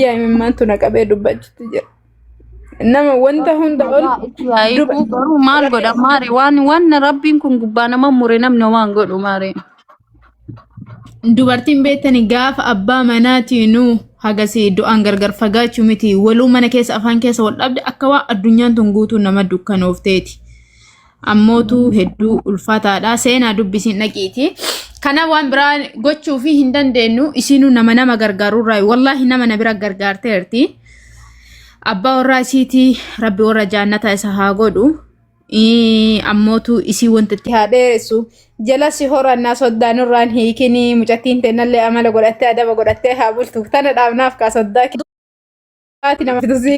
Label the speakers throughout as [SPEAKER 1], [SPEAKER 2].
[SPEAKER 1] Yaa imimmaantu na qabee dubbachuutti jira. Nama wanta hunda ol Itti yaa'eetu garuu
[SPEAKER 2] maal godha maare waan waan rabbiin kun gubbaa nama mure namni homaa hin godhu maare.
[SPEAKER 1] dubartiin beektani gaafa abbaa manaatiinu hagasii du'aan gargar fagaachuu miti waluu mana keessa afaan keessa wal dhabde akka waan addunyaan tun guutuu nama dukkanoofteeti. ammootu hedduu ulfaataadha seenaa dubbisiin dhaqiiti kana waan biraa gochuu fi hin dandeenyu isiinuu nama nama gargaarurraa wallaahi nama na bira gargaarteerti abbaa warraa isiitii rabbi warra jaannata isa haa godhu Ii, ammootu isii wanti itti haa dheeressu jala si horannaa soddaan irraan hiikinii mucattiin teennallee amala godhattee adaba godhattee haa bultu tana dhaabnaaf kaa soddaa kee nama fidusii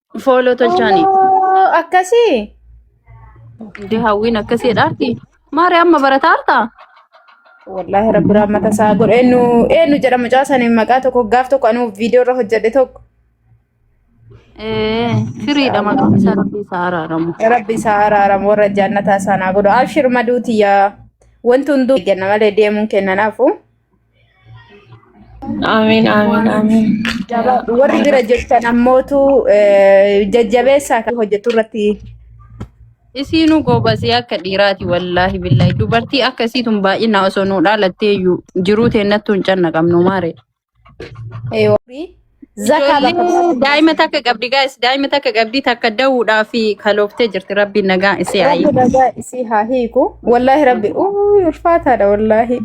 [SPEAKER 2] Fooloo tolchaanii. Oo, akkasii Dee hawwiin akkasii dhaarti. Maari amma barataa hartaa? wallaahi
[SPEAKER 1] rabbi raammata isaa godhe eenyu eenyu jedha mucaa saniin maqaa tokko gaaf tokko anuu viidiyoo irra hojjedhe tokko Ee,
[SPEAKER 2] firiidha maqaan isaa rabbi isaa araaramu. rabbi isaa araaramu
[SPEAKER 1] warra jaannataa isaa naa godhu abshir maduu tiyyaa wanti hunduu kenna malee deemuun kennanaafu
[SPEAKER 3] Amiin amiin amiin. Jabaa warri bira
[SPEAKER 1] jirtan ammootu eh, jajjabeessaa kan hojjetu irratti
[SPEAKER 2] Isiinuu goobasee akka dhiiraati wallaahi billaahi dubartii akka isiitun baay'ina osoo nuu dhaalattee iyyuu jiruu teennattuu hin cannaqamnu maare. eh, warri Zakaa Ijoollee bakka bu'aa daa'ima sadaqaa. takka qabdi gaa'is daa'ima takka qabdi takka da'uudhaa fi kalooftee jirti rabbiin nagaa isii haa Rabbi hiiku. nagaa isii haa hiiku.
[SPEAKER 1] Wallaahi rabbi uuu ulfaataadha wallaahi.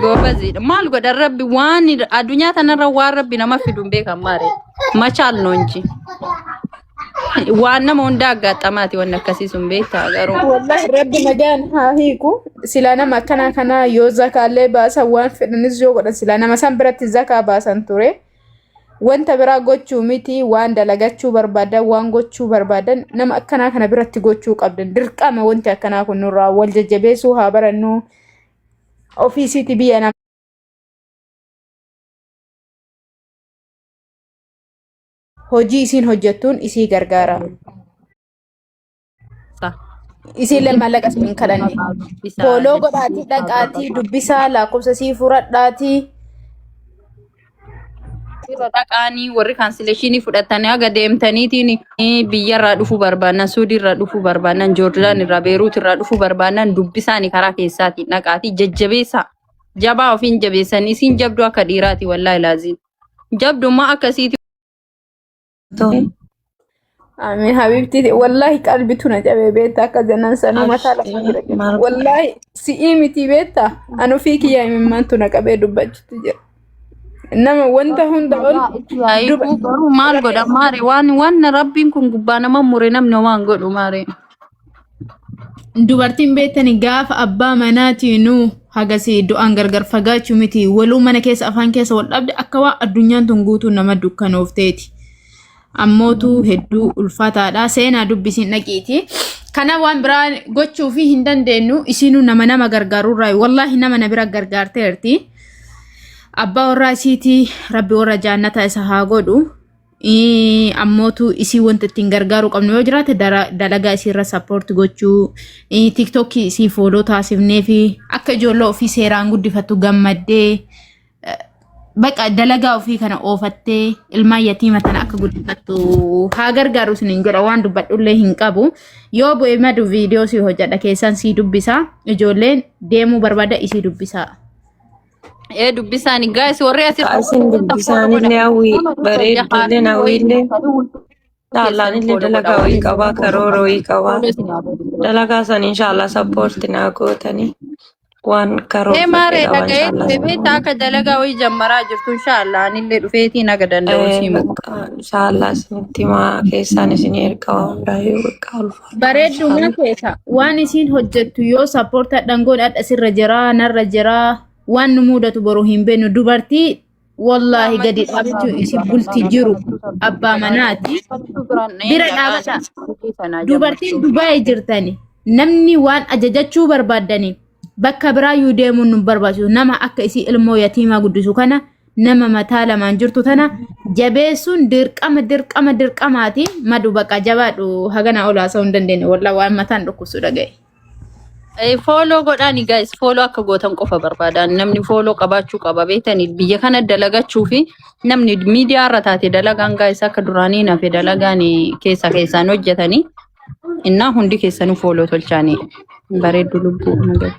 [SPEAKER 1] Goobaziidha
[SPEAKER 2] maal godha rabbi waan addunyaa tanarra waan rabbi nama fidu hin beekan maare machaal noonji. Waan nama hundaa aggaatamaati wanni akkasii sun beektaa garuu. Wallahi rabbi nagaan
[SPEAKER 1] haa hiiku. Silaa nama akkanaa kanaa yoo zakaallee baasan waan fedhanis yoo godhan silaa nama san biratti zakaa baasan ture. Wanta biraa gochuu miti waan dalagachuu barbaadan waan gochuu barbaadan nama akkanaa kana biratti gochuu qabdan dirqama wanti akkanaa kun nurraa wal jajjabeessuu haa barannu ofiisiiti biyya nama. hojii isiin hojjettuun isii gargaara. Sa. Isiillee maallaqa isin hin kadhanne. Isaa Fooloo jechuun godhaatii isaa dhaqaatii qaba. dubbisaa lakkoofsa sii fudhadhaatii.
[SPEAKER 2] Yeroo dhaqaanii warri kaansileeshinii fudhatanii haga deemtaniitiin eh, biyyarraa dhufuu barbaadan, Suudiirraa dhufuu barbaadan, Joordaan irraa, Beeruut irraa dhufuu barbaadan dubbisaanii karaa keessaatiin dhaqaatii jajjabeessaa. Jabaa ofiin jabeessanii isiin jabduu akka dhiiraati wallaahi laaziin. jabdummaa akkasiiti.
[SPEAKER 1] Ameen habiibti wallahi qalbitu na cabee beekta akka janan sanuu mataa lafa jira jedha. Wallahi si'ii miti beekta an ofii kiyyaa imimmaantu na qabee dubbachuutti jira. Nama wanta hunda ol Yaa'ikuu garuu
[SPEAKER 2] maal godha maare waan waan rabbiin kun gubbaa nama mure namni homaa hin godhu maare. dubartiin
[SPEAKER 1] beektani gaafa abbaa manaatii nu hagasii du'aan gargar fagaachuu miti waluu mana keessa afaan keessa wal dhabde akka waan addunyaan tun guutuu nama dukkanoofteeti. Ammootu hedduu ulfaataadha seenaa dubbisiin dhaqiiti. Kana waan biraa gochuu fi hin dandeenyu isiinuu nama nama gargaarurraa wallaahi nama na bira gargaarteerti. Abbaa warraa isiitii rabbi warra jaannata isa haa godhu. Ii, ammootu isii wanta ittiin gargaaruu qabnu yoo jiraate dara- dalagaa isii irra sappoorti gochuu ii, tiktokii isii fooloo taasifnee fi akka ijoollee ofii seeraan guddifattu gammaddee eh, baqa dalagaa ofii kana oofattee ilmaan yatiima tana akka guddifattu haa gargaaru isiniin jedha waan dubbadhullee hin qabu yoo bu'e madu viidiyoo sii hojjedha keessaan sii dubbisa ijoolleen deemuu barbaada isii dubbisaa. Ee
[SPEAKER 2] dubbisaani gaa'is warri asirra Kaa isin hojjetan dubbi support godha.
[SPEAKER 3] isaaniillee hawwii Nama dhufa bareedduullee jahaarri wayii hawwiillee nuufanii hunduu keessan taallaanillee follow godha dalagaa wayii waliin qabaa karoora wayii qabaa follow isin haa godhu. dalagaa san inshaallah sappoorti naa gootanii waan Ee karoorfadhe maaree qabaa dhaga'ee inshaallah
[SPEAKER 2] dhufe beekta akka dalagaa wayii jammaraa jirtu inshaallah anillee dhufeetiin haga danda'u Eh, isii muka. bakka inshaallah
[SPEAKER 3] isinitti himaa keessaan isinii erga waan biraayyuu bakka ulfa Bareeddu Mashallah. waan keessa
[SPEAKER 1] waan isiin hojjettu yoo sappoorta dhangoon adha sirra jiraa narra jiraa waan nu mudatu boru hin beeknu dubartii wallaahi gadi dhaabachuu isi bulti jiru abbaa manaati bira dhaabata dubartiin dubaa'e jirtani namni waan ajajachuu barbaaddaniin bakka biraa yuu deemuun nu barbaachisu nama akka isii ilmoo yatiimaa guddisu kana nama mataa lamaan jirtu tana jabeessuun dirqama dirqama dirqamaati madu baqa jabaadhu hagana olaa sa'uu hin dandeenye walla waan mataan dhukkubsu dhaga'e.
[SPEAKER 2] Fooloo godhaani guys fooloo akka gootan qofa barbaada namni fooloo qabaachuu qaba beektanii biyya kana dalagachuu fi namni miidiyaa irra taate dalagaan guys akka duraanii nafe dalagaan keessa keessaan hojjetanii Innaa hundi keessanuu fooloo tolchaanii bareeddu lubbuu nagaa.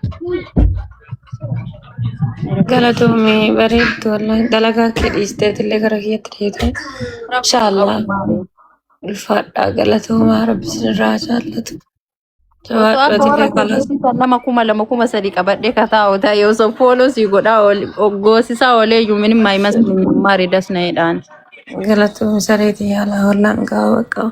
[SPEAKER 3] Galatoomii bareeddu wallahi dalagaa kee dhiisteetillee gara kiyyatti deetee inshaallah ulfaadhaa galatoomaa rabbi sinirraa jaallatu Osoo amma warra jawaadhootillee kalas
[SPEAKER 2] keessatti kan nama kuma lama kuma sadii qabadhee kataa otaa yoo osoo fooloo sii godhaa ool- goosisaa oolee iyyuu minim maayimas maarii dasna'eedhaan. galatoomi
[SPEAKER 3] sareetii yaalaa wallaan gaawaa qabu.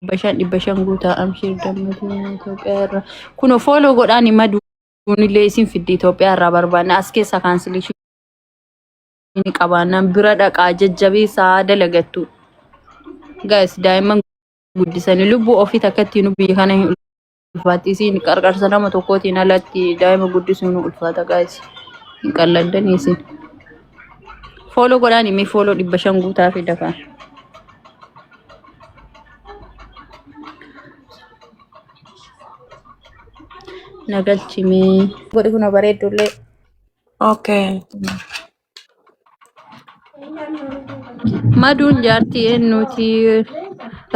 [SPEAKER 2] dhibba shan dhibba shan guutaa amshiir dammatii Itoophiyaa irraa kunoo fooloo godhaan hima duunillee isin fiddi Itoophiyaa irraa barbaanna as keessa kaansilishin ni qabaannaan bira dhaqaa jajjabeessaa dalagattu gaayis daa'imman guddisanii lubbuu ofii takkatti nu biyya kana hin ulfaatti isiin qarqarsa nama tokkootiin alatti daa'ima guddisuun ulfaata gaasi hin qalladdan isiin fooloo godhaan immoo fooloo dhibba shan guutaa fi dafaa na galchimee godhi kuna bareeddullee Okay. Maduun jaartii eenyuuti?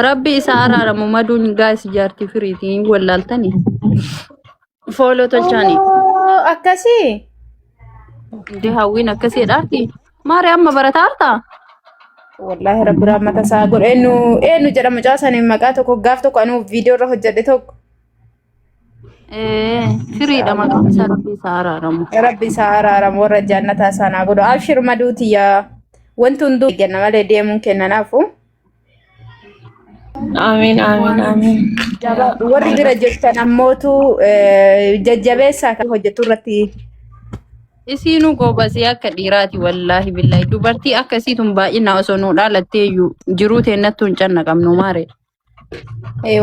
[SPEAKER 2] Rabbi isa araaramu maduun gaa'is jaartii firiiti hin wallaaltani. Fooloo tolchaani. Oo, akkasii Dee hawwiin akkasii dhaarti. Maari amma barataa hartaa?
[SPEAKER 1] wallaahi rabbi rahmata isaa godhe eenyu eenyu jedhama mucaa saniin maqaa tokko gaaf tokko anuu viidiyoo irra hojjedhe tokko Eh,
[SPEAKER 2] firiidha Inshallah. maqaan isaa rabbi isaa araaramu. Rabbi isaa araaramu warra jannataa
[SPEAKER 1] isaan haa godhu. Abshir maduu tiyya. Wanti hunduu eegganna malee deemuun kenna naafu.
[SPEAKER 3] Amiin amiin amiin.
[SPEAKER 1] Jabaa warri bira jirtan ammootu eh, jajjabeessaa kan hojjetu irratti
[SPEAKER 2] Isiinu goobasee akka dhiiraati wallaahi billaahi dubartii akkasiitun baay'inaa osoo nuu dhaalattee iyyuu jiruu teennattuu hin cannaqamnu maare. eh,